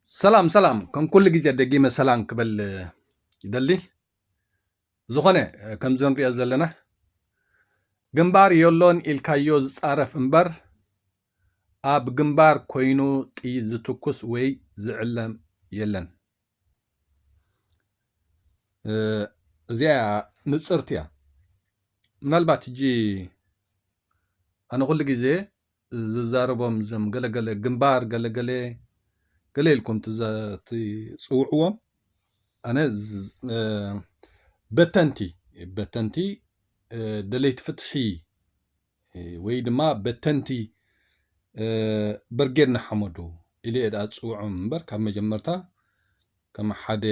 ሰላም ሰላም ከም ኩሉ ግዜ ደጊመ ሰላም ክበል ይደሊ ዝኾነ ከምዚ ንሪኦ ዘለና ግንባር የሎን ኢልካዮ ዝፃረፍ እምበር ኣብ ግንባር ኮይኑ ጥይት ዝትኩስ ወይ ዝዕለም የለን እዚኣ ንፅርቲ እያ ምናልባት እጂ ኣነ ኩሉ ግዜ ዝዛረቦም እዞም ገለገለ ግንባር ገለገለ ገለ ኢልኩም ትፅውዕዎም ኣነ በተንቲ በተንቲ ደለይቲ ፍትሒ ወይ ድማ በተንቲ በርጌድ ንሓመዱ ኢለ እየ ድኣ ዝፅውዖም እምበር ካብ መጀመርታ ከም ሓደ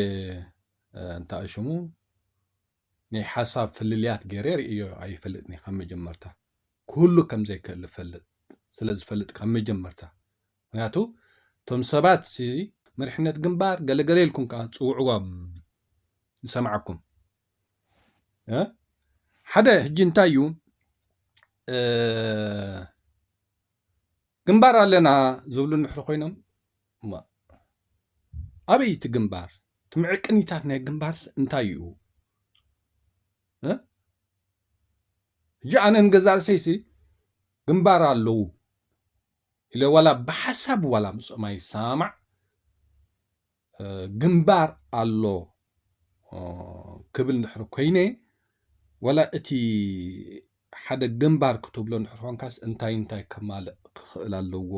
እንታይ ሽሙ ናይ ሓሳብ ፍልልያት ገይረ ርእየዮ ኣይፈልጥን እየ ካብ መጀመርታ ክህሉ ከም ዘይክእል እፈልጥ ስለ ዝፈልጥ ካብ መጀመርታ ምክንያቱ እቶም ሰባት ሲ መሪሕነት ግንባር ገለገለ ኢልኩም ከዓ ትፅውዕዎም ንሰማዓኩም እ ሓደ ሕጂ እንታይ እዩ ግንባር ኣለና ዝብሉ እንድሕሪ ኮይኖም እማ ኣበይ እቲ ግንባር እቲ ምዕቅኒታት ናይ ግንባርስ እንታይ እዩ ሕጂ ኣነ ንገዛእ ርእሰይሲ ግንባር ኣለዉ ኢለ ዋላ ብሓሳብ ዋላ ምስኦም ኣይሰማማዕ ግንባር ኣሎ ክብል እንድሕር ኮይነ ዋላ እቲ ሓደ ግንባር ክትብሎ እንድሕር ኮንካስ እንታይ እንታይ ከማልእ ክኽእል ኣለዎ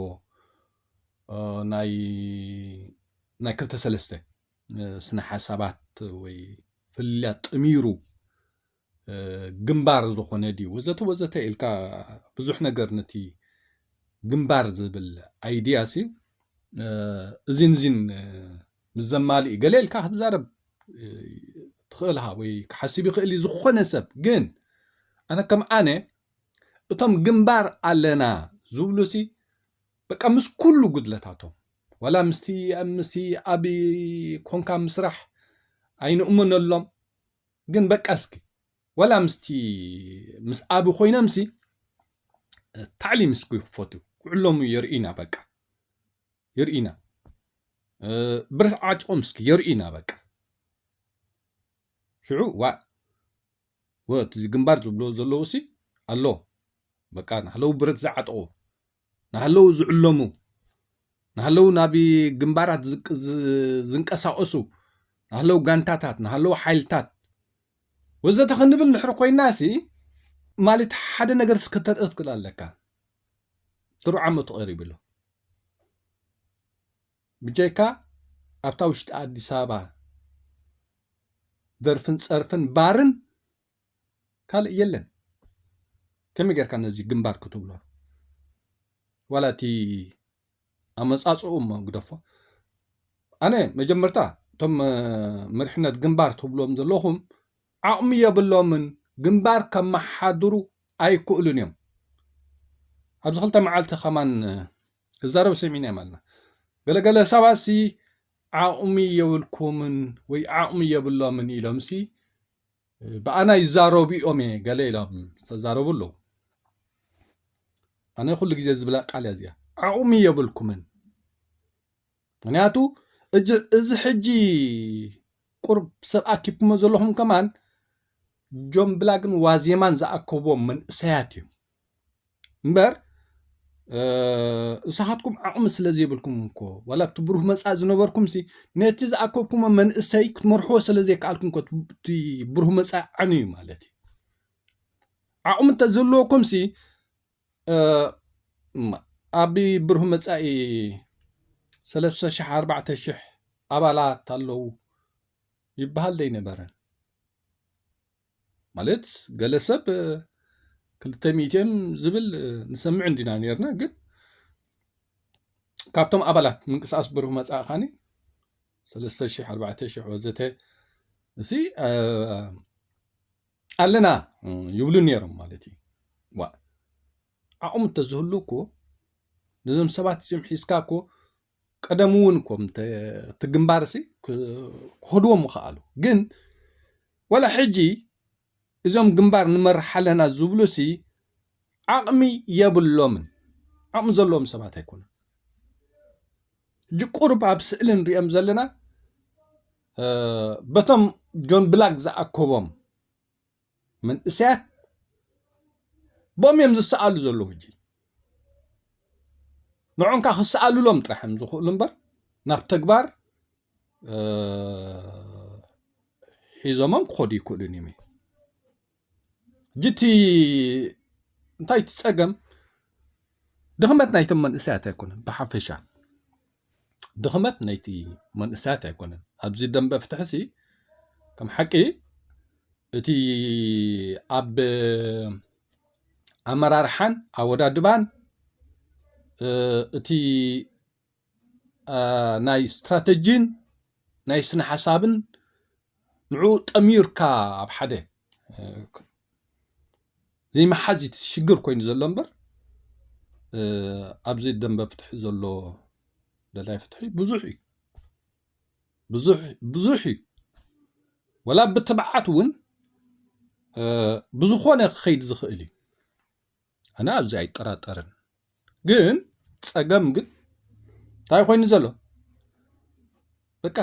ናይ ክልተ ሰለስተ ስነ ሓሳባት ወይ ፍልልያት ጥሚሩ ግንባር ዝኾነ ድዩ ወዘተ ወዘተ ኢልካ ብዙሕ ነገር ነቲ ግንባር ዝብል ኣይድያ ሲ እዚን እዚን ምስ ዘማልኢ ገለ ኢልካ ክትዛረብ ትኽእል ሃ ወይ ክሓስብ ይኽእል እዩ ዝኾነ ሰብ ግን ኣነ ከም ኣነ እቶም ግንባር ኣለና ዝብሉ ሲ በቃ ምስ ኩሉ ጉድለታቶም ዋላ ምስቲ ምስ ኣብ ኮንካ ምስራሕ ኣይንእምነሎም ግን በቃ እስኪ ዋላ ምስቲ ምስ ኣብ ኮይኖምሲ ታዕሊም እስኪ ክፈቱ ውዕሎሙ የርእዩና በቃ የርእዩና ብረት ዓጢቆም እስኪ የርእዩና በቃ ሽዑ ዋ ወቲ ግንባር ዝብሎ ዘለዉ ሲ ኣሎ በቃ ናህለው ብረት ዝዓጠቑ ናህለው ዝዕለሙ ናህለው ናብ ግንባራት ዝንቀሳቀሱ ናህለው ጋንታታት ናህለው ሓይልታት ወዘተ ክንብል ንሕር ኮይና ሲ ማለት ሓደ ነገር ስከተርኢ ትክእል ኣለካ ጥሩ ዓመቱ ቀሪቡ ኣሎ ብጀካ ኣብታ ውሽጢ ኣዲስ ኣበባ ደርፍን ፀርፍን ባርን ካልእ የለን ከመይ ጌርካ ነዚ ግንባር ክትብሎ ዋላ እቲ ኣመጻጽኡ እሞ ግደፎ ኣነ መጀመርታ እቶም መሪሕነት ግንባር ትብሎም ዘለኹም ዓቕሚ የብሎምን ግንባር ከመሓድሩ ኣይክእሉን እዮም ኣብዚ ክልተ መዓልቲ ከማን ክዛረብ ሰሚዕና እዮም ኣለና ገለገለ ሰባሲ ዓቕሚ የብልኩምን ወይ ዓቕሚ የብሎምን ኢሎምሲ ብኣና ይዛረቡ እዮም እየ ገለ ኢሎም ዝተዛረቡ ኣለዉ ኣነ ኩሉ ግዜ ዝብላ ቃል እያ እዚኣ ዓቕሚ የብልኩምን ምክንያቱ እዚ ሕጂ ቁርብ ሰብ ኣኪብኩሞ ዘለኹም ከማን ጆን ብላግን ዋዜማን ዝኣከብዎም መንእሰያት እዮም እምበር ንስኻትኩም ዓቕሚ ስለ ዘይብልኩም እኮ ዋላ እቲ ብሩህ መፃኢ ዝነበርኩም ሲ ነቲ ዝኣከብኩሞ መንእሰይ ክትመርሕዎ ስለ ዘይከኣልኩም እኮ እቲ ብሩህ መፃኢ ዓንዩ ማለት እዩ ዓቕሚ እንተዘለወኩም ሲ ኣብ ብሩህ መፃኢ ሰለስተ ሽሕ ኣርባዕተ ሽሕ ኣባላት ኣለዉ ይበሃል ዘይነበረን ማለት ገለ ሰብ ክልተ ሚእቲ እዮም ዝብል ንሰምዕ እንዲና ነርና ግን ካብቶም ኣባላት ምንቅስቃስ ብሩህ መጻኢ ካኒ ሰለስተ ሽሕ ኣርባዕተ ሽሕ ወዘተ እዚ ኣለና ይብሉ ነይሮም ማለት እዩ ዋ ዓቕሙ እንተዝህሉ እኮ ነዞም ሰባት እዚኦም ሒዝካ እኮ ቀደም እውን እኮ እቲ ግንባር ሲ ክኸድዎ ምኸኣሉ ግን ወላ ሕጂ እዞም ግንባር ንመርሕ ኣለና ዝብሉ ሲ ዓቕሚ የብሎምን ዓቕሚ ዘለዎም ሰባት ኣይኮኑ ሕጂ ቁርብ ኣብ ስእሊ ንሪኦም ዘለና በቶም ጆን ብላክ ዝኣከቦም መንእሰያት ቦም እዮም ዝሰኣሉ ዘለዉ ሕጂ ንዑንካ ክሰኣሉሎም ጥራሕ እዮም ዝኽእሉ እምበር ናብ ተግባር ሒዞሞም ክኸዱ ይክእሉን እዮም ጅቲ እንታይ ትፀገም ድኽመት ናይቶም መንእሰያት ኣይኮነን ብሓፈሻ ድኽመት ናይቲ መንእሰያት ኣይኮነን ኣብዚ ደንበ ፍትሕሲ ከም ሓቂ እቲ ኣብ ኣመራርሓን ኣወዳድባን እቲ ናይ ስትራተጂን ናይ ስነ ሓሳብን ንዕኡ ጠሚርካ ኣብ ሓደ ዘይምሓዝ እቲ ሽግር ኮይኑ ዘሎ እምበር ኣብዚ ደንበ ፍትሒ ዘሎ ደላይ ፍትሒ ብዙሕ እዩ ብዙሕ እዩ ወላ ብትብዓት እውን ብዝኾነ ክኸይድ ዝኽእል እዩ ኣነ ኣብዚ ኣይጠራጠርን ግን ፀገም ግን እንታይ ኮይኑ ዘሎ በቃ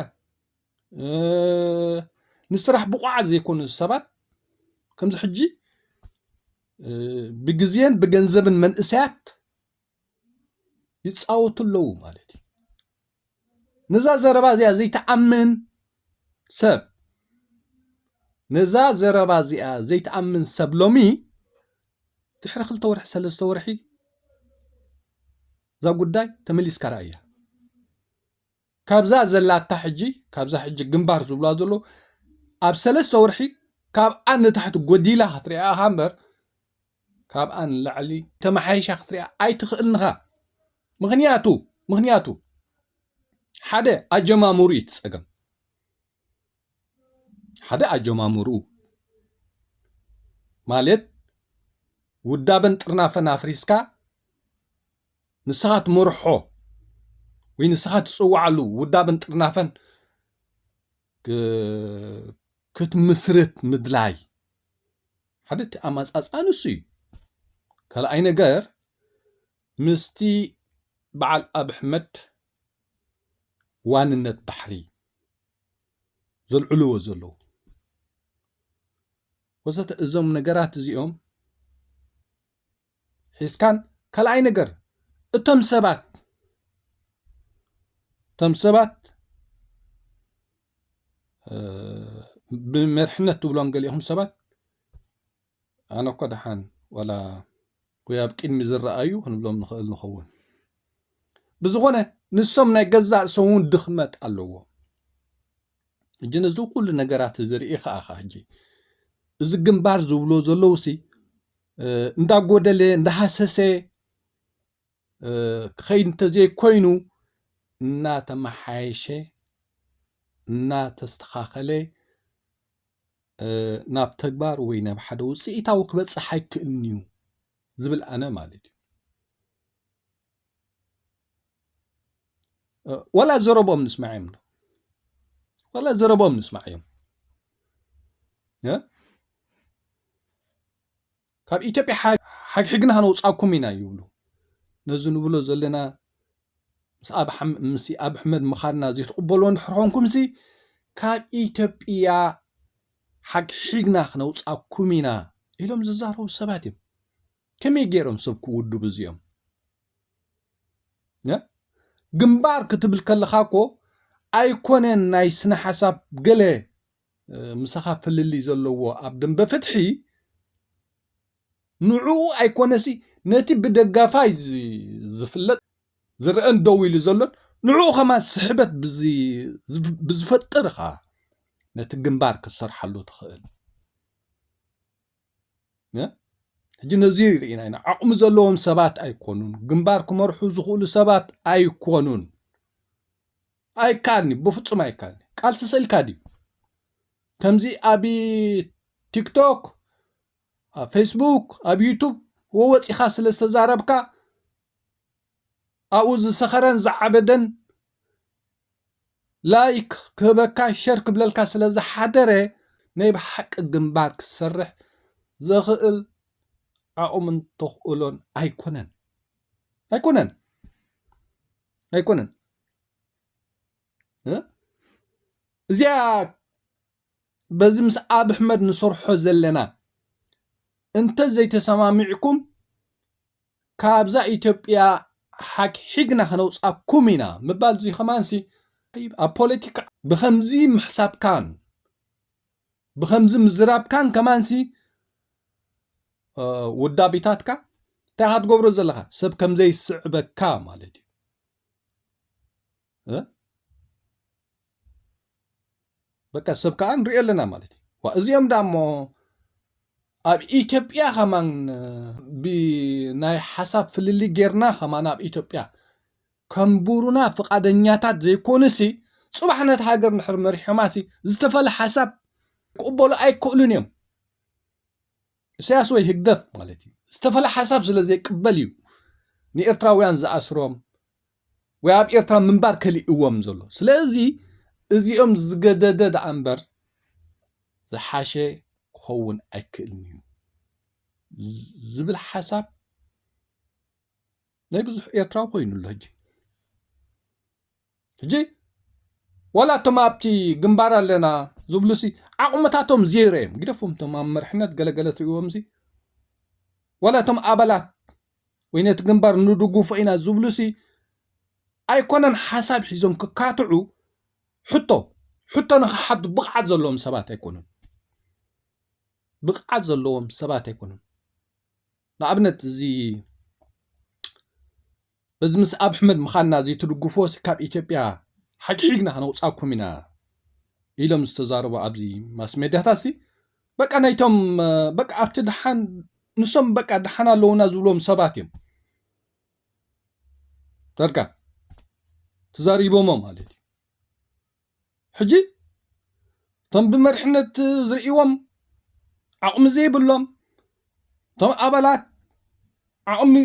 ንስራሕ ብቑዓት ዘይኮኑ ሰባት ከምዚ ሕጂ ብግዜን ብገንዘብን መንእሰያት ይፃወቱ ኣለዉ ማለት እዩ። ነዛ ዘረባ እዚኣ ዘይትኣምን ሰብ ነዛ ዘረባ እዚኣ ዘይትኣምን ሰብ ሎሚ ድሕሪ ክልተ ወርሒ ሰለስተ ወርሒ እዛ ጉዳይ ተመሊስካ ረኣያ። ካብዛ ዘላታ ሕጂ ካብዛ ሕጂ ግንባር ዝብልዋ ዘለዉ ኣብ ሰለስተ ወርሒ ካብኣ ንታሕቲ ጎዲላ ክትሪኣ ኢኻ እምበር ካብኣ ንላዕሊ ተመሓይሻ ክትሪኣ ኣይትኽእልን ኢኻ ምኽንያቱ ምኽንያቱ ሓደ ኣጀማምሩ እዩ ትጸገም ሓደ ኣጀማምሩ ማለት ውዳበን ጥርናፈን ኣፍሪስካ ንስኻ ትመርሖ ወይ ንስኻ ትፅዋዓሉ ውዳበን ጥርናፈን ክትምስርት ምድላይ ሓደ እቲ ኣማፃፅኣ ንሱ እዩ ካልኣይ ነገር ምስቲ በዓል ኣብ ኣሕመድ ዋንነት ባሕሪ ዘልዕልዎ ዘለዉ ወዘተ እዞም ነገራት እዚኦም ሒዝካን ካልኣይ ነገር እቶም ሰባት እቶም ሰባት ብመርሕነት ትብሎም ገሊኹም ሰባት ኣነ እኮ ደሓን ዋላ ወይ ኣብ ቅድሚ ዝረኣዩ ክንብሎም ንኽእል ንኸውን ብዝኾነ ንሶም ናይ ገዛእ ርእሶም እውን ድኽመት ኣለዎ እጂ ነዚ ኩሉ ነገራት እዚ ርኢ ከኣኻ ሕጂ እዚ ግንባር ዝብሎ ዘለውሲ እንዳጎደለ እንዳሃሰሰ ክኸይድ እንተዘይኮይኑ እናተመሓየሸ እናተስተኻኸለ ናብ ተግባር ወይ ናብ ሓደ ውፅኢታዊ ክበፅሕ ኣይክእልን እዩ ዝብል ኣነ ማለት እዩ። ወላ ዘረብኦም ንስማዕ እዮም ወላ ዘረብኦም ንስማዕ እዮም ካብ ኢትዮጵያ ሓግሕግና ከነውፃኩም ኢና ይብሉ ነዚ ንብሎ ዘለና ምስ ኣብ ኣሕመድ ምኻድና ዘይትቕበልዎ እንድሕር ኮንኩምሲ ካብ ኢትዮጵያ ሓግሒግና ክነውፃኩም ኢና ኢሎም ዝዛረቡ ሰባት እዮም ከመይ ገይሮም ሰብ ክውድቡ እዚኦም ግንባር ክትብል ከለኻ እኮ ኣይኮነን ናይ ስነ ሓሳብ ገለ ምሳኻ ፍልልይ ዘለዎ ኣብ ደንበ ፍትሒ ንዕኡ ኣይኮነሲ ነቲ ብደጋፋይ ዝፍለጥ ዝረአን ደው ኢሉ ዘሎን ንዕኡ ከማን ስሕበት ብዝፈጥር ኸዓ ነቲ ግንባር ክትሰርሓሉ ትኽእል ሕጂ ነዚ ርኢና ኢና ዓቕሚ ዘለዎም ሰባት ኣይኮኑን ግንባር ክመርሑ ዝኽእሉ ሰባት ኣይኮኑን ኣይከኣልኒ ብፍፁም ኣይከኣልኒ ቃልሲ ስእልካ ድዩ ከምዚ ኣብ ቲክቶክ ኣብ ፌስቡክ ኣብ ዩቱብ ወወፂኻ ስለ ዝተዛረብካ ኣብኡ ዝሰኸረን ዝዓበደን ላይክ ክህበካ ሸር ክብለልካ ስለ ዝሓደረ ናይ ብሓቂ ግንባር ክሰርሕ ዘኽእል ዓቕሙን ተኽእሎን ኣይኮነን ኣይኮነን ኣይኮነን እዚኣ በዚ ምስ ኣብ ኣሕመድ ንሰርሖ ዘለና እንተ ዘይተሰማሚዕኩም ካብዛ ኢትዮጵያ ሓግሒግና ከነውጻኩም ኢና ምባል እዚ ከማንሲ ኣብ ፖለቲካ ብከምዚ ምሕሳብካን ብከምዚ ምዝራብካን ከማንሲ ውዳቢታትካ እንታይ ኢኻ ትገብሮ ዘለኻ ሰብ ከምዘይስዕበካ ማለት እዩ በቃ ሰብ ከዓ ንሪኦ ኣለና ማለት እዩ ዋ እዚኦም ዳ እሞ ኣብ ኢትዮጵያ ከማን ብናይ ሓሳብ ፍልሊ ጌርና ከማን ኣብ ኢትዮጵያ ከምቡሩና ፍቓደኛታት ዘይኮኑሲ ፅባሕ ነቲ ሃገር ንድሕር መሪሖማሲ ዝተፈለ ሓሳብ ክቕበሉ ኣይክእሉን እዮም እሰያስ ወይ ህግደፍ ማለት እዩ ዝተፈለ ሓሳብ ስለ ዘይቅበል እዩ ንኤርትራውያን ዝኣስሮም ወይ ኣብ ኤርትራ ምንባር ከሊእዎም ዘሎ ስለዚ እዚኦም ዝገደደ ደኣ እምበር ዝሓሸ ክኸውን ኣይክእልን እዩ ዝብል ሓሳብ ናይ ብዙሕ ኤርትራዊ ኮይኑ ኣሎ ሕጂ ሕጂ ዋላ እቶም ኣብቲ ግንባር ኣለና ዝብሉሲ ዓቕምታቶም ዜሮ እዮም ግደፎም እቶም ኣብ መርሕነት ገለገለ ትሪእዎምሲ ዋላ እቶም ኣባላት ወይ ነቲ ግንባር ንድጉፎ ኢና ዝብሉሲ ኣይኮነን ሓሳብ ሒዞም ክካትዑ ሕቶ ሕቶ ንክሓቱ ብቕዓት ዘለዎም ሰባት ኣይኮኑን ብቕዓት ዘለዎም ሰባት ኣይኮኑን ንኣብነት እዚ በዚ ምስ ኣብ ሕመድ ምዃንና እዚ ትድግፎሲ ካብ ኢትዮጵያ ሓግሒግና ከነውፃኩም ኢና ኢሎም ዝተዛረቡ ኣብዚ ማስ ሜድያታት ሲ በቃ ናይቶም በቃ ኣብቲ ደሓን ንሶም በቃ ደሓን ኣለዉና ዝብሎም ሰባት እዮም ዳርጋ ተዛሪቦሞ ማለት እዩ ሕጂ እቶም ብመርሕነት ዝርእዎም ዓቕሚ ዘይብሎም እቶም ኣባላት ዓቕሚ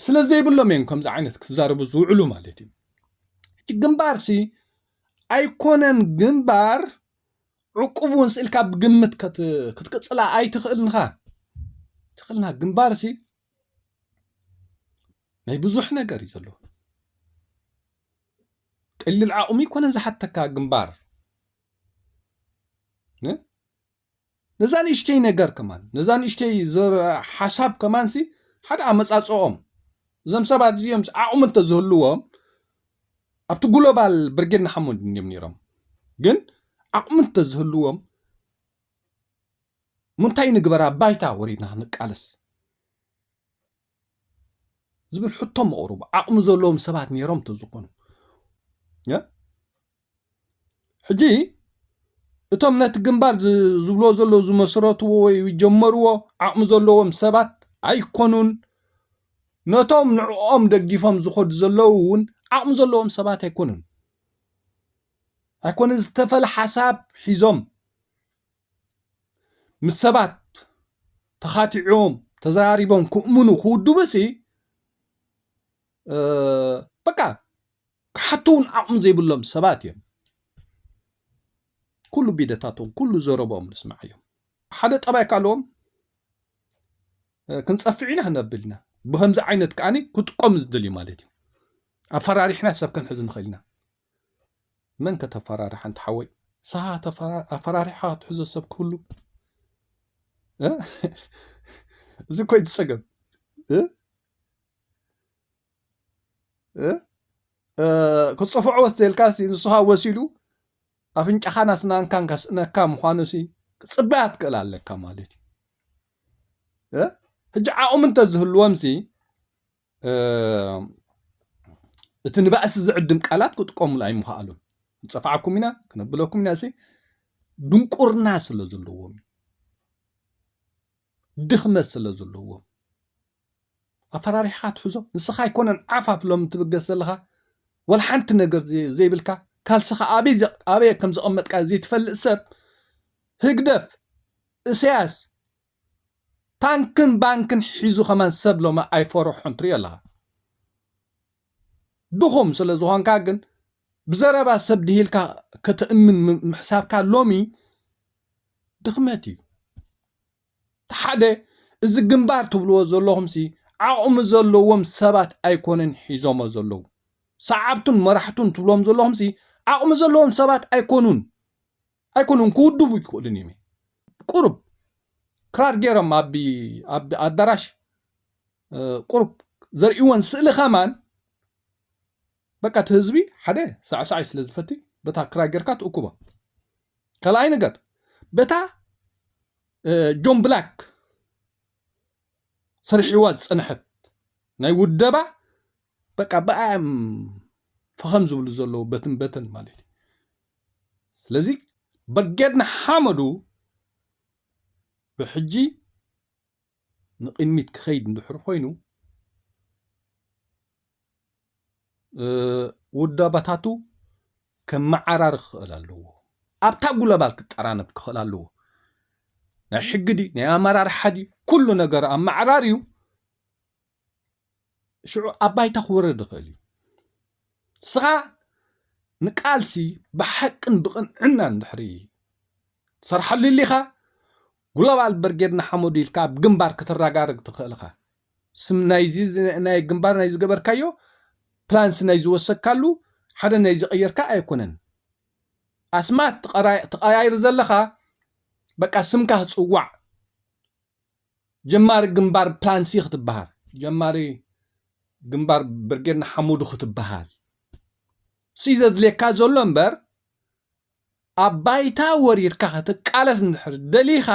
ስለ ዘይብሎም እዮም ከምዚ ዓይነት ክትዛረቡ ዝውዕሉ ማለት እዩ ግንባርሲ ኣይኮነን ግንባር ዕቁብ እውን ስእልካ ብግምት ክትቅፅላ ኣይትኽእልንኻ ትኽእልና ግንባር ሲ ናይ ብዙሕ ነገር እዩ ዘለዎ ቀሊል ዓቕሚ ይኮነን ዝሓተካ ግንባር ነዛ ንእሽተይ ነገር ከማን ነዛ ንእሽተይ ሓሳብ ከማን ሲ ሓደ ኣመፃፅኦም እዞም ሰባት እዚኦም ዓቕሚ እንተዝህልዎም ኣብቲ ጉሎባል ብርጌድ ንሓመዱ እንድዮም ነይሮም ግን ዓቕሚ እንተዝህልዎም ምንታይ ንግበር ኣብ ባይታ ወሪድና ክንቃለስ ዝብል ሕቶ መቕርቡ ዓቕሚ ዘለዎም ሰባት ነይሮም እንተዝኾኑ ሕጂ እቶም ነቲ ግንባር ዝብሎ ዘሎ ዝመስረትዎ ወይ ጀመርዎ ዓቕሚ ዘለዎም ሰባት ኣይኮኑን ነቶም ንዕኦም ደጊፎም ዝኸዱ ዘለዉ እውን ዓቕሚ ዘለዎም ሰባት ኣይኮኑን ኣይኮነ ዝተፈለ ሓሳብ ሒዞም ምስ ሰባት ተኻቲዖም ተዘራሪቦም ክእምኑ ክውድቡ ሲ በቃ ክሓትውን ዓቕሚ ዘይብሎም ሰባት እዮም ኩሉ ቢደታቶም ኩሉ ዘረቦኦም ንስማዕ እዮም ሓደ ጠባይ ካለዎም ክንጸፍዕ ኢና ክነብል ኢና ብከምዚ ዓይነት ከኣ ክጥቀሙ ዝደልዩ ማለት እዩ ኣፈራሪሕና ሰብ ክንሕዝ ንኽእል ኢና መን ከተፈራርሕ ኣንቲ ሓወይ ሰሃ ኣፈራሪሕካ ክትሕዞ ሰብ ክህሉ እዚ ኮይ ትጸገም ክጽፍዖ ወስደልካሲ ንስኻ ወሲሉ ኣፍንጫኻን ኣስናንካን ከስእነካ ምዃኑሲ ክጽበያ ትክእል ኣለካ ማለት እዩ ሕጂ ዓቕሚ እንተዝህልዎምሲ እቲ ንባእሲ ዝዕድም ቃላት ክጥቀሙሉ ኣይምኸኣሉን ንፀፋዕኩም ኢና ክነብለኩም ኢና ሲ ድንቁርና ስለ ዘለዎም ድኽመት ስለ ዘለዎም ኣፈራሪሕኻ ትሕዞ ንስኻ ኣይኮነን ዓፋፍ ሎሚ ትብገስ ዘለኻ ወላ ሓንቲ ነገር ዘይብልካ ካልስኻ ኣበየ ከም ዘቐመጥካዮ ዘይትፈልጥ ሰብ ህግደፍ እሰያስ ታንክን ባንክን ሒዙ ከማን ሰብ ሎሚ ኣይፈርሖን ትሪኦ ኣለኻ ድኹም ስለ ዝኾንካ ግን ብዘረባ ሰብ ድሂልካ ከተእምን ምሕሳብካ ሎሚ ድኽመት እዩ እቲ ሓደ እዚ ግንባር ትብልዎ ዘለኹምሲ ዓቕሚ ዘለዎም ሰባት ኣይኮነን ሒዞሞ ዘለዉ። ሰዓብቱን መራሕቱን ትብሎም ዘለኹምሲ ዓቕሚ ዘለዎም ሰባት ኣይኮኑን። ኣይኮኑን ክውድቡ ኣይክእሉን እዮም። ቁሩብ ክራር ገይሮም ኣብ ኣብ ኣዳራሽ ቁሩብ ዘርእይወን ስእሊ ከማን በቃ እቲ ህዝቢ ሓደ ሳዕሳዓይ ስለ ዝፈቲ በታ ክራር ጌርካ ትእኩቦ። ካልኣይ ነገር በታ ጆን ብላክ ሰሪሕዋ ዝጸንሐት ናይ ውደባ በቃ ብኣያ እዮም ፈኸም ዝብሉ ዘለዉ በትን በትን ማለት እዩ ስለዚ ብርጌድ ንሓመዱ ብሕጂ ንቕድሚት ክኸይድ እንድሕር ኮይኑ ውዳባታቱ ከመዓራሪ ክኽእል ኣለዎ ኣብታ ጉለባል ክጠራነፍ ክኽእል ኣለዎ ናይ ሕጊ ድዩ ናይ ኣመራርሓ ድዩ ኩሉ ነገር ኣመዓራርዩ ሽዑ ኣብ ባይታ ክወርድ ይኽእል እዩ ንስኻ ንቃልሲ ብሓቅን ብቕንዕናን ድሕሪ ትሰርሓሉ ኢሊኻ ግሎባል ብርጌድ ንሓመዱ ኢልካ ኣብ ግንባር ክትረጋርግ ትኽእል ኢኻ ስም ናይዚ ናይ ግንባር ናይ ዝገበርካዮ ፕላንስ ናይ ዝወሰካሉ ሓደ ናይ ዝቐየርካ ኣይኮነን ኣስማት ትቐያይር ዘለኻ በቃ ስምካ ጽዋዕ ጀማሪ ግንባር ፕላን ሲ ክትበሃል ጀማሪ ግንባር ብርጌድ ንሓሙዱ ክትበሃል ሲ ዘድልየካ ዘሎ እምበር ኣብ ባይታ ወሪርካ ክትቃለስ እንድሕር ደሊኻ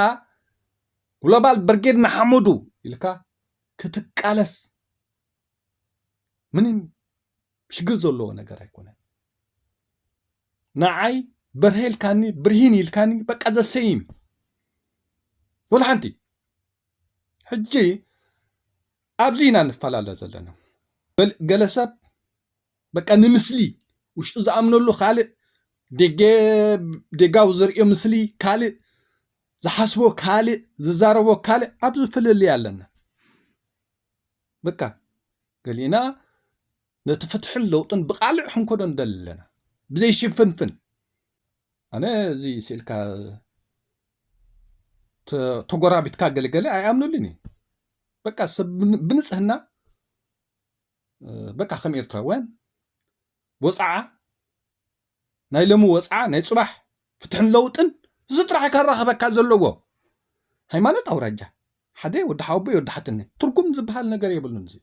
ግሎባል ብርጌድ ንሓሙዱ ኢልካ ክትቃለስ ምንም ሽግር ዘለዎ ነገር ኣይኮነን ንዓይ በርሀ ኢልካኒ ብርሂን ኢልካኒ በቃ ዘሰይም ወላ ሓንቲ ሕጂ ኣብዚ ኢና ንፈላለ ዘለና ገለ ሰብ በቃ ንምስሊ ውሽጡ ዝኣምነሉ ካልእ ደጋዊ ዝርእዮ ምስሊ ካልእ ዝሓስቦ ካልእ ዝዛረቦ ካልእ ኣብዚ ፍልልይ ኣለና በቃ ገሊእና ነቲ ፍትሕን ለውጥን ብቃልዕ ክንኮዶ ንደሊ ኣለና ብዘይ ሽፍንፍን ኣነ እዚ ስእልካ ተጎራቢትካ ገለገለ ኣይኣምኑልን እዩ በቃ ሰብ ብንፅህና በቃ ከም ኤርትራውያን ወፅዓ ናይ ሎሚ ወጽዓ ናይ ጽባሕ ፍትሕን ለውጥን እዚ ጥራሕ እዩ ከራኽበካ ዘለዎ ሃይማኖት ኣውራጃ ሓደ ወዲ ሓወቦይ ወዲ ሓትነይ ትርጉም ዝበሃል ነገር የብሉን እዚ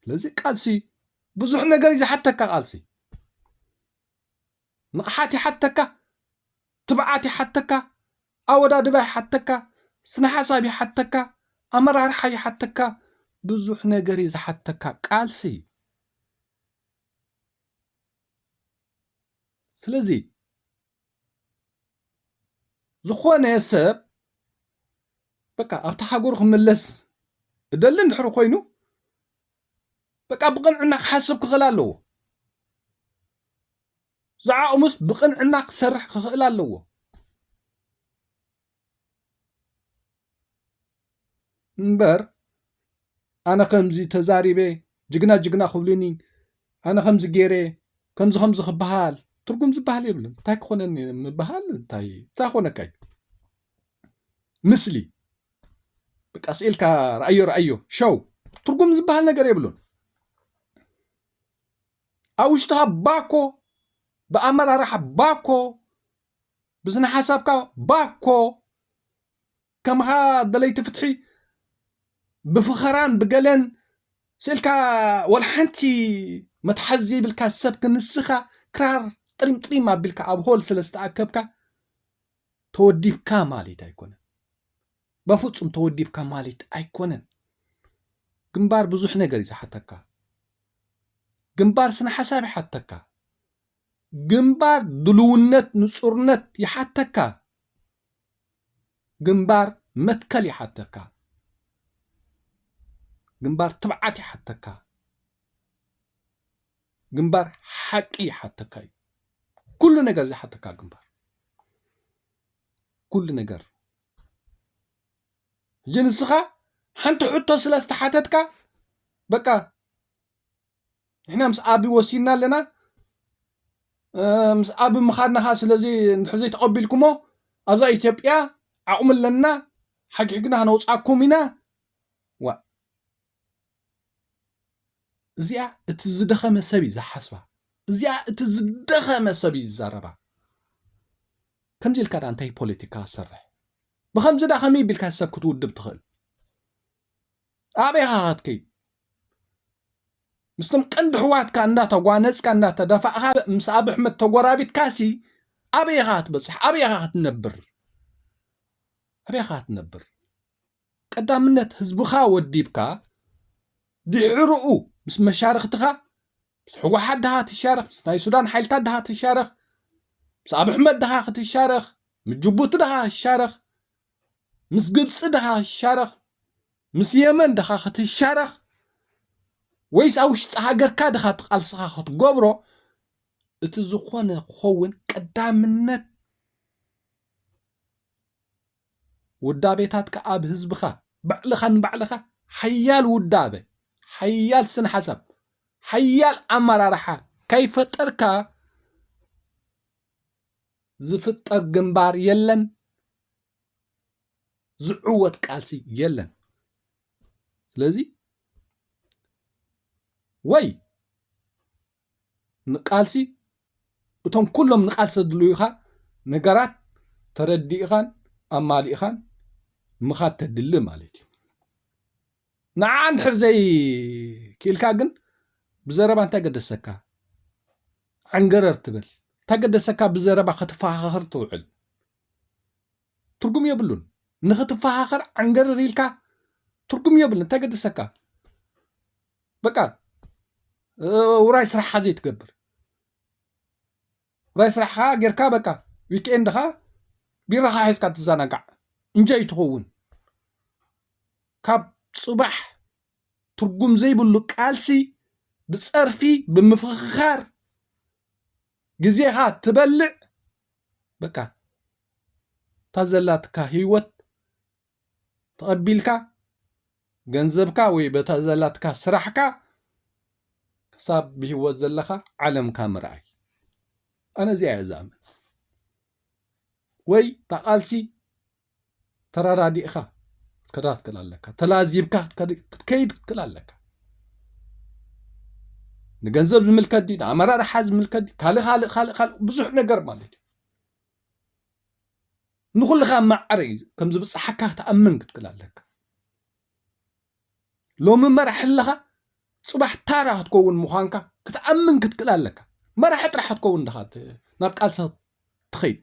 ስለዚ ቃልሲ ብዙሕ ነገር እዩ ዝሓተካ ቃልሲ ንቕሓት ይሓተካ ትብዓት ይሓተካ ኣወዳድባ ይሓተካ ስነ ሓሳብ ይሓተካ ኣመራርሓ ይሓተካ ብዙሕ ነገር እዩ ዝሓተካ ቃልሲ እዩ ስለዚ ዝኾነ ሰብ በቃ ኣብቲ ሃገሩ ክምለስ እደሊ እንድሕሪ ኮይኑ በቃ ብቕንዕና ክሓስብ ክኽእል ኣለዎ ዝዓቕሙስ ብቕንዕና ክሰርሕ ክኽእል ኣለዎ እምበር ኣነ ከምዚ ተዛሪበ ጅግና ጅግና ክብሉኒ ኣነ ከምዚ ገይረ ከምዚ ከምዚ ክበሃል ትርጉም ዝበሃል የብሉን እንታይ ክኾነኒ እየ ምበሃል እንታይ ክኾነካ እዩ ምስሊ በቃ ስኢልካ ረኣዮ ረኣዮ ሸው ትርጉም ዝበሃል ነገር የብሉን ኣብ ውሽጥኻ ባኮ ብኣመራርሓ ባኮ ብስነሓሳብካ ባኮ ከምኻ ደለይቲ ፍትሒ ብፍኸራን ብገለን ስእልካ ወልሓንቲ መትሓዚ ዘይብልካ ሰብ ክንስኻ ክራር ጥሪምጥሪም ኣቢልካ ኣብ ሆል ስለ ዝተኣከብካ ተወዲብካ ማለት ኣይኮነን በፍፁም ተወዲብካ ማለት ኣይኮነን ግንባር ብዙሕ ነገር እዩ ዝሓተካ ግንባር ስነ ሓሳብ ይሓተካ ግንባር ድሉውነት ንጹርነት ይሓተካ። ግንባር መትከል ይሓተካ። ግንባር ትብዓት ይሓተካ። ግንባር ሓቂ ይሓተካ እዩ። ኩሉ ነገር ዝሓተካ ግንባር ኩሉ ነገር ሕጂ ንስኻ ሓንቲ ሕቶ ስለ ዝተሓተትካ በቃ ንሕና ምስ ኣቢ ወሲንና ኣለና ምስ ኣቢ ምኻድና ኸዓ ስለዚ እንድሕር ዘይተቐቢልኩሞ ኣብዛ ኢትዮጵያ ዓቕሚ ኣለና ሓግሕግና ክነውፃኩም ኢና ዋ እዚኣ እቲ ዝደኸመ ሰብ እዩ ዝሓስባ እዚኣ እቲ ዝደኸመ ሰብ እዩ ዝዛረባ ከምዚ ኢልካ ዳ እንታይ ፖለቲካ ሰርሕ ብከምዚ ዳ ከመይ ቢልካ ሰብ ክትውድብ ትኽእል ኣበይ ኢኻ ከትከይድ ምስትም ቀንዲ ሕዋትካ እንዳተጓነጽካ እንዳተደፋእኻ ምስ ኣብ ኣሕመድ ተጎራቢትካሲ ኣበይ ኢኻ ክትበጽሕ ኣበይ ኢኻ ክትነብር ኣበይ ኢኻ ክትነብር ቀዳምነት ህዝብኻ ወዲብካ ድሕርኡ ምስ መሻርኽትኻ ምስ ሕወሓት ድኻ ትሻረኽ ምስ ናይ ሱዳን ሓይልታት ድኻ ትሻረኽ ምስ ኣብ ኣሕመድ ድኻ ክትሻረኽ ምስ ጅቡቲ ድኻ ክትሻረኽ ምስ ግብፂ ድኻ ክትሻረኽ ምስ የመን ድኻ ክትሻረኽ ወይስ ኣብ ውሽጢ ሃገርካ ድኻ እቲ ቃልስኻ ክትገብሮ እቲ ዝኾነ ክኸውን ቀዳምነት ውዳቤታትካ ኣብ ህዝብኻ ባዕልኻ ንባዕልኻ ሓያል ውዳበ ሓያል ስነ ሓሳብ ሓያል ኣመራርሓ ከይፈጠርካ ዝፍጠር ግንባር የለን፣ ዝዕወት ቃልሲ የለን። ስለዚ ወይ ንቃልሲ እቶም ኩሎም ንቃልሲ ዘድልዩኻ ነገራት ተረዲእኻን ኣማሊእኻን ምኻድ ተድሊ ማለት እዩ። ንዓ እንድሕር ዘይ ክኢልካ ግን ብዘረባ እንታይ ገደሰካ ዕንገረር ትብል እንታይ ገደሰካ ብዘረባ ክትፈኻኸር ትውዕል ትርጉም የብሉን ንክትፈኻኸር ዕንገረር ኢልካ ትርጉም የብሉን እንታይ ገደሰካ በቃ ውራይ ስራሕካ ዘይትገብር ጥራይ ስራሕኻ ጌርካ በቃ ዊክኤንድኻ ቢራኻ ሒዝካ ትዘናጋዕ እንጆይ ትኸውን ካብ ጽባሕ ትርጉም ዘይብሉ ቃልሲ ብጸርፊ ብምፍኽኻር ግዜኻ ትበልዕ በቃ እታ ዘላትካ ህይወት ተቐቢልካ ገንዘብካ ወይ በታ ዘላትካ ስራሕካ ክሳብ ብሂወት ዘለኻ ዓለምካ ምርኣይ ኣነ እዚኣ እየ ዝኣምን ወይ ታቓልሲ ተራዳዲእኻ ክትከዳ ትክእል ኣለካ ተላዚብካ ክትከይድ ትክእል ኣለካ ንገንዘብ ዝምልከት ድዩ ንኣመራርሓ ዝምልከት ካልእ ካልእ ካልእ ካልእ ብዙሕ ነገር ማለት እዩ ንኹልኻ ማዕረ እዩ ከም ዝብጽሓካ ክትኣምን ክትክል ኣለካ። ሎሚ መራሒ ኣለኻ፣ ጽባሕ ታራ ክትከውን ምዃንካ ክትኣምን ክትክል ኣለካ። መራሒ ጥራሕ ክትከውን ድኻ ናብ ቃልሲ ትኸይድ።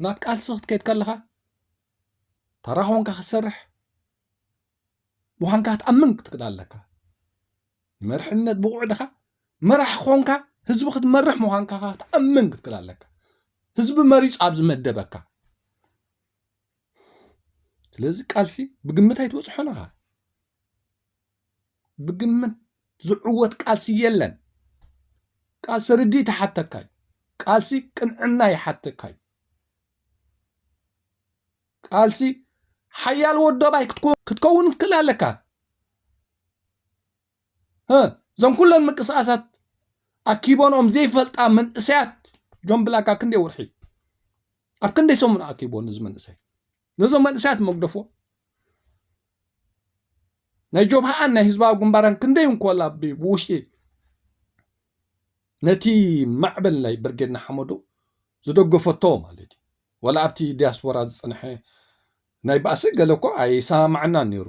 ናብ ቃልሲ ክትከይድ ከለኻ ታራ ኮንካ ክትሰርሕ ምዃንካ ክትኣምን ክትክእል ኣለካ ንመርሕነት ብቑዕ ድኻ መራሕ ኾንካ ህዝቢ ክትመርሕ ምዃንካ ክትኣምን ክትክእል ኣለካ ህዝቢ መሪፅ ኣብ ዝመደበካ ስለዚ ቃልሲ ብግምት ኣይትበፅሖን ኢኻ ብግምት ዝዕወት ቃልሲ የለን ቃልሲ ርድኢት ይሓተካ እዩ ቃልሲ ቅንዕና ይሓተካ እዩ ቃልሲ ሓያል ወዶባይ ክትከውን ክትክእል ኣለካ። እዞም ኩለን ምንቅስቃሳት ኣኪቦንኦም ዘይፈልጣ መንእሰያት ጆን ብላካ ክንደይ ወርሒ ኣብ ክንደይ ሰሙን ኣኪቦ ነዚ መንእሰይ ነዞም መንእሰያት መግደፎ ናይ ጆብሃኣን ናይ ህዝባዊ ግንባራን ክንደይ እንኮላ ብውሽጢ ነቲ ማዕበል ናይ ብርጌድ ንሓመዱ ዝደገፈቶ ማለት እዩ ወላ ኣብቲ ዲያስፖራ ዝጽንሐ ናይ ባእሲ ገለ እኮ ኣይሰማማዓናን ነይሩ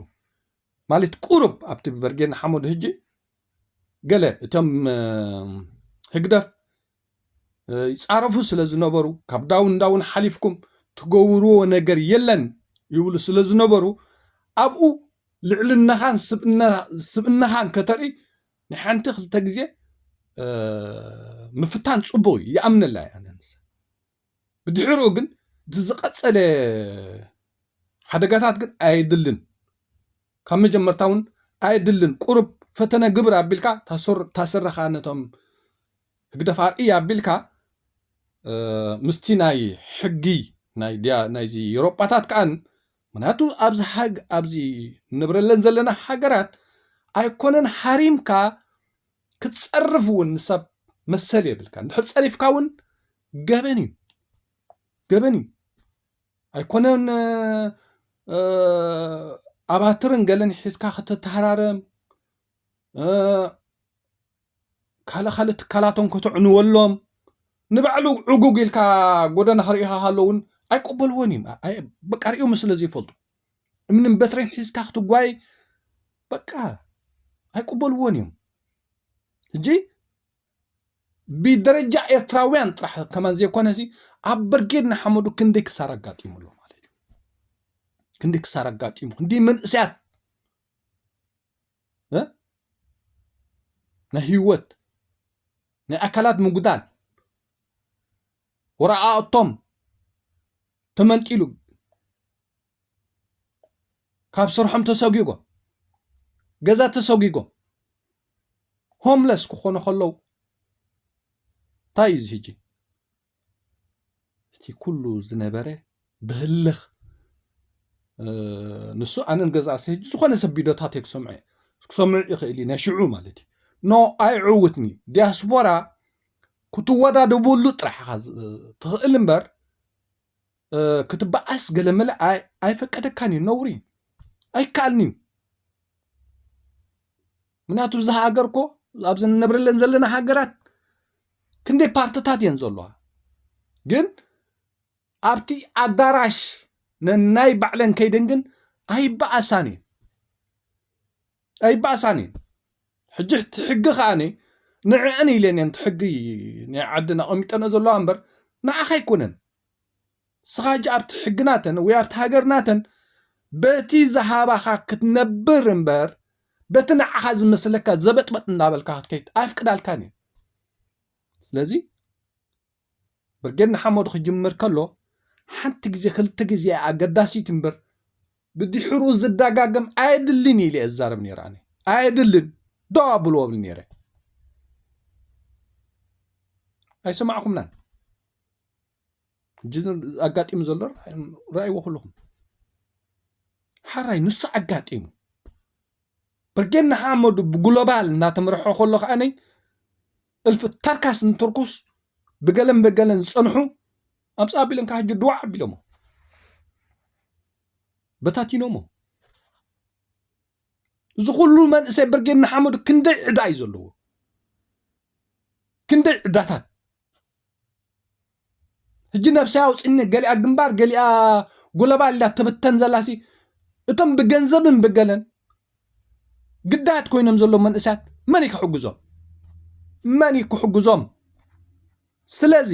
ማለት ቁሩብ ኣብቲ ብበርጌድ ንሓመዱ ህጂ ገለ እቶም ህግደፍ ይጻረፉ ስለ ዝነበሩ ካብ ዳውን ዳውን ሓሊፍኩም ትገብርዎ ነገር የለን ይብሉ ስለ ዝነበሩ ኣብኡ ልዕልናኻን ስብእናኻን ከተርኢ ናይ ሓንቲ ክልተ ግዜ ምፍታን ጽቡቕ እዩ ይኣምነላ እያ ብድሕርኡ ግን እቲ ዝቐጸለ ሓደጋታት ግን ኣየድልን ካብ መጀመርታ እውን ኣየድልን ቁሩብ ፈተነ ግብር ኣቢልካ እታ ስረ ከዓ ነቶም ህግደፍ ኣርእያ ኣቢልካ ምስቲ ናይ ሕጊ ናይዚ ኤሮጳታት ከዓ ምክንያቱ ኣብዚ ኣብዚ ንብረለን ዘለና ሃገራት ኣይኮነን ሃሪምካ ክትጸርፍ እውን ንሰብ መሰል የብልካን ድሕር ጸሪፍካ እውን ገበን እዩ ገበን እዩ ኣይኮነን ኣባትርን ገለን ሒዝካ ከተተሃራርም ካልእ ካልእ ትካላቶም ከተዕንወሎም ንባዕሉ ዕጉግ ኢልካ ጎደና ክርእኻ ከለውን ኣይቀበልዎን እዮም በቃ ሪኦሞ ስለ ዘይፈልጡ እምንን በትሬን ሒዝካ ክትጓይ በቃ ኣይቅበልዎን እዮም እጂ ብደረጃ ኤርትራውያን ጥራሕ ከማን ዘይኮነ ሲ ኣብ ብርጌድ ንሓመዱ ክንደይ ክሳር ኣጋጢሙ ኣሎ ማለት እዩ ክንደይ ክሳር ኣጋጢሙ ክንደይ መንእሰያት ናይ ህይወት ናይ ኣካላት ምጉዳል ወረቓቕቶም ተመንጢሉ ካብ ስርሖም ተሰጒጎም ገዛ ተሰጒጎም ሆምለስ ክኾኑ ከለዉ እንታይ እዩ እዚ ሕጂ እቲ ኩሉ ዝነበረ ብህልኽ ንሱ ኣነ ንገዛእ ሰ ዝኾነ ሰብ ቢዶታተይ ክሰምዖ እየ ክሰምዑ ይኽእል እዩ ናይ ሽዑ ማለት እዩ ኖ ኣይዕውትን እዩ ዲያስፖራ ክትወዳደበሉ ጥራሕ ኢኻ ትኽእል እምበር ክትበኣስ ገለመለ ኣይፈቀደካን እዩ ነውሪ ኣይከኣልን እዩ ምክንያቱ እዚ ሃገር ኮ ኣብዚ ንነብረለን ዘለና ሃገራት ክንደይ ፓርትታት እየን ዘለዋ ግን ኣብቲ ኣዳራሽ ነናይ ባዕለን ከይደን ግን ኣይበኣሳን እየን ኣይበኣሳን እየን ሕጂ እቲ ሕጊ ከኣነ ንዕአን ኢለን እየን እቲ ሕጊ ናይ ዓድን ኣቐሚጠንኦ ዘለዋ እምበር ንዓኻ ኣይኮነን ንስኻ ሕጂ ኣብቲ ሕጊ ናተን ወይ ኣብቲ ሃገር ናተን በቲ ዝሃባኻ ክትነብር እምበር በቲ ንዓኻ ዝመስለካ ዘበጥበጥ እንዳበልካ ክትከይድ ኣይፍቅዳልካን እዩ ስለዚ ብርጌድ ንሓመዱ ክጅምር ከሎ ሓንቲ ግዜ ክልተ ግዜ እያ ኣገዳሲት እምበር ብድሕሩ ዝደጋገም ኣየድልን ኢለ እየ ዝዛረብ ነይረ ኣነ ኣየድልን ዶ ኣብልዎ ብል ነይረ ኣይሰማዕኹምናን ሕጂ ኣጋጢሙ ዘሎ ረኣይዎ ኩልኹም ሓራይ ንሱ ኣጋጢሙ ብርጌድ ንሓመዱ ብግሎባል እናተመርሖ ከሎ ከዓነይ እልፊ ተርካስ ንትርኩስ ብገለን በገለን ዝፀንሑ ኣምፃ ኣቢሎም ካብ ሕጂ ድዋዕ ኣቢሎሞ በታቲኖሞ እዚ ኩሉ መንእሰይ ብርጌድ ንሓመዱ ክንደይ ዕዳ እዩ ዘለዎ ክንደይ ዕዳታት ሕጂ ነብሰይ ኣውጽኒ ገሊኣ ግንባር ገሊኣ ጉለባ ኢላ ትብተን ዘላሲ እቶም ብገንዘብን ብገለን ግዳያት ኮይኖም ዘለዉ መንእሰያት መን እዩ ክሕግዞም መን እዩ ክሕግዞም ስለዚ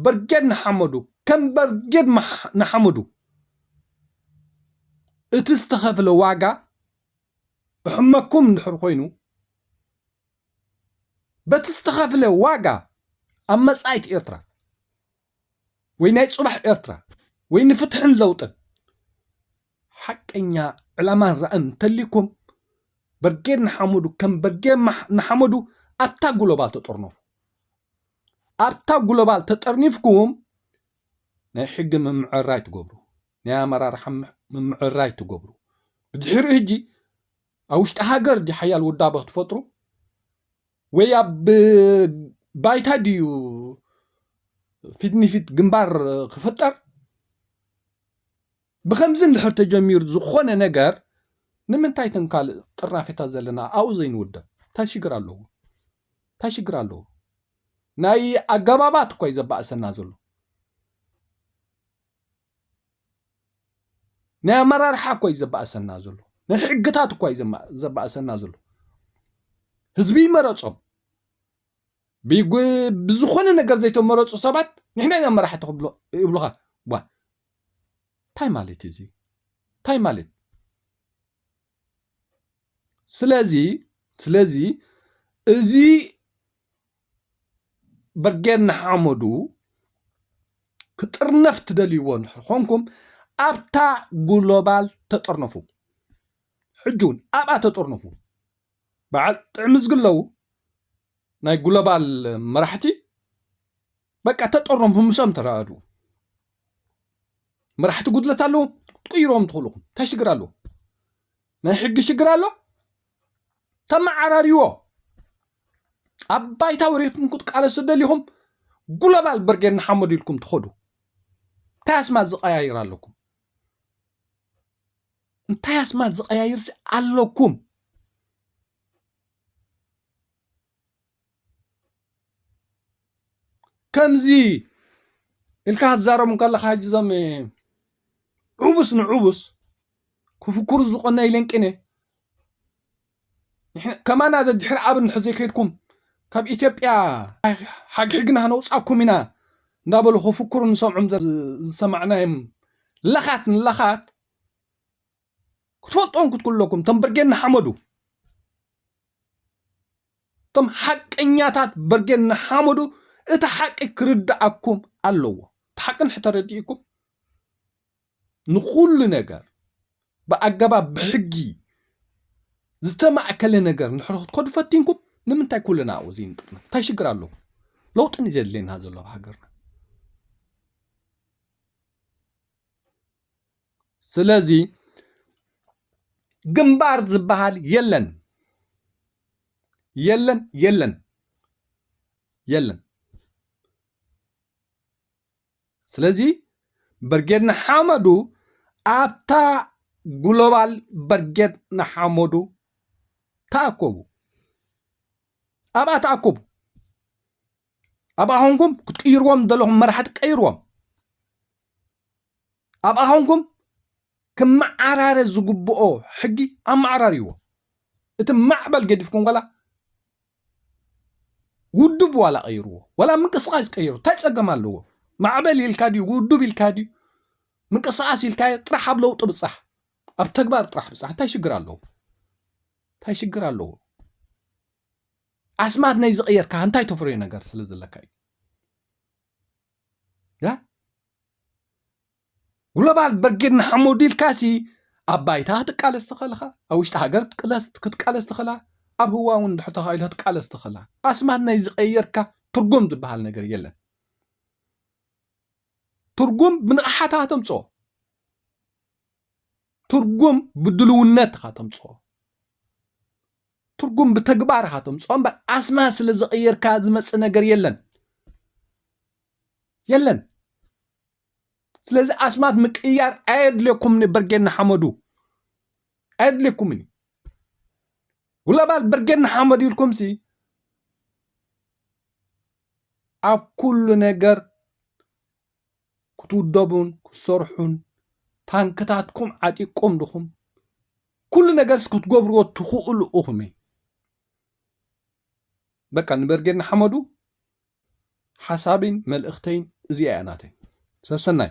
ብርጌድ ንሓመዱ ከም ብርጌድ ንሓመዱ እቲ ዝተኸፍለ ዋጋ እሕመኩም እንድሕር ኮይኑ በቲ ዝተኸፍለ ዋጋ ኣብ መጻኢት ኤርትራ ወይ ናይ ጽባሕ ኤርትራ ወይ ንፍትሕን ለውጥን ሓቀኛ ዕላማን ራእን እንተልዩኩም በርጌድ ንሓመዱ ከም በርጌድ ንሓመዱ ኣብታ ግሎባል ተጠርነፉ ኣብታ ግሎባል ተጠርኒፍኩም ናይ ሕጊ ምምዕራይ ትገብሩ ናይ ኣመራርሓ ምምዕራይ ትገብሩ ብድሕሪ ህጂ ኣብ ውሽጢ ሃገር ድዩ ሓያል ውዳበ ክትፈጥሩ ወይ ኣብ ባይታ ድዩ ፊት ንፊት ግንባር ክፍጠር ብከምዚ እንድሕር ተጀሚሩ ዝኾነ ነገር ንምንታይ እተን ካልእ ጥርናፌታት ዘለና ኣብኡ ዘይንውደብ እንታይ ሽግር ኣለዎ እንታይ ሽግር ኣለዎ ናይ ኣገባባት እኳ እዩ ዘባእሰና ዘሎ ናይ ኣመራርሓ እኳ እዩ ዘባእሰና ዘሎ ናይ ሕግታት እኳ እዩ ዘባእሰና ዘሎ ህዝቢ ይመረፆም ብዝኾነ ነገር ዘይተመረፁ ሰባት ንሕና ኢና መራሕቲ ይብሉኻ ዋ እንታይ ማለት እዩ እዚ እንታይ ማለት ስለዚ ስለዚ እዚ ብርጌድ ንሓመዱ ክጥርነፍ ትደልይዎ እንድሕር ኾንኩም ኣብታ ግሎባል ተጠርነፉ ሕጂ እውን ኣብኣ ተጠርነፉ በዓል ጥዕምዝግለው ናይ ግሎባል መራሕቲ በቃ ተጠሮም ብምሶም ተራኣዱ መራሕቲ ጉድለት ኣለዎ ትቅይሮም ትኽእሉኹም እንታይ ሽግር ኣለዎ ናይ ሕጊ ሽግር ኣሎ ተመዓራርዎ ኣብ ባይታ ወሪትኩም ክትቃለሱ ደሊኹም ጉሎባል ብርጌድ ንሓመዱ ኢልኩም ትኸዱ እንታይ ኣስማት ዝቀያይር ኣለኩም እንታይ ኣስማት ዝቀያይርሲ ኣለኩም ከምዚ ኢልካ ክትዛረቦም ከለካ ሕጂ እዞም ዕቡስ ንዕቡስ ክፍክሩ ዝቀነዩ ኢለን ቅነ ከማና ደድሕሪ ኣብ እንድሕዘይ ከድኩም ካብ ኢትዮጵያ ሓግሕግና ክነውጻኩም ኢና እንዳበሉ ክፍክሩ ንሰምዖም ዝሰማዕናዮም ለኻት ንለኻት። ክትፈልጥዎም ክትክለኩም እቶም ብርጌድ ንሓመዱ እቶም ሓቀኛታት ብርጌድ ንሓመዱ እቲ ሓቂ ክርድኣኩም ኣለዎ እቲ ሓቂ ንሕተረዲእኩም ንኩሉ ነገር ብኣገባብ ብሕጊ ዝተማእከለ ነገር ንሕሪ ክትከዱ ፈቲንኩም ንምንታይ ኩልና ኣብኡ ዘይንጥርነ እንታይ ሽግር ኣለዎ ለውጢ ንዘድልየና ዘሎ ኣብ ሃገርና ስለዚ ግንባር ዝበሃል የለን የለን የለን የለን። ስለዚ ብርጌድ ንሓመዱ ኣብታ ግሎባል ብርጌድ ንሓመዱ ተኣከቡ፣ ኣብኣ ተኣከቡ። ኣብኣ ኾንኩም ክትቅይርዎም ዘለኹም መራሕቲ ቀይርዎም ኣብኣ ኾንኩም ክመዓራረ ዝግብኦ ሕጊ ኣመዓራርይዎ እቲ ማዕበል ገዲፍኩም ዋላ ውድብ ዋላ ቀይርዎ ዋላ ምንቅስቃስ ቀይሩ እንታይ ፀገም ኣለዎ ማዕበል ኢልካ ድዩ ውድብ ኢልካ ድዩ ምንቅስቃስ ኢልካ ጥራሕ ኣብ ለውጢ ብፃሕ ኣብ ተግባር ጥራሕ ብፃሕ እንታይ ሽግር ኣለዎ እንታይ ሽግር ኣለዎ ኣስማት ናይ ዝቐየርካ እንታይ ተፍርዮ ነገር ስለ ዘለካ እዩ ግሎባል ብርጌድ ንሓመዱ ኢልካ ሲ ኣብ ባይታ ክትቃለስ ትኽእል ኢኻ ኣብ ውሽጢ ሃገር ክትቃለስ ትኽእላ ኣብ ህዋ እውን ድሕር ተኻኢሎ ክትቃለስ ትኽእላ ኣስማት ናይ ዝቐየርካ ትርጉም ዝበሃል ነገር የለን ትርጉም ብንቕሓታ ተምፅኦ ትርጉም ብድልውነትኻ ተምፅኦ ትርጉም ብተግባር ኢኻ ተምፅኦ እምበር ኣስማት ስለ ዝቐየርካ ዝመፅእ ነገር የለን የለን ስለዚ ኣስማት ምቅያር ኣየድልየኩምን እዩ በርጌድ ንሓመዱ ኣየድልየኩምን እዩ ጉለባል በርጌድ ንሓመዱ ኢልኩም ሲ ኣብ ኩሉ ነገር ክትውደቡን ክትሰርሑን ታንክታትኩም ዓጢቅኩም ድኹም ኩሉ ነገርስ ክትገብርዎ ትኽእሉ እኹም እዩ በቃ ንበርጌድ ንሓመዱ ሓሳብን መልእኽተይን እዚኣ እያ ናተይ ሰሰናይ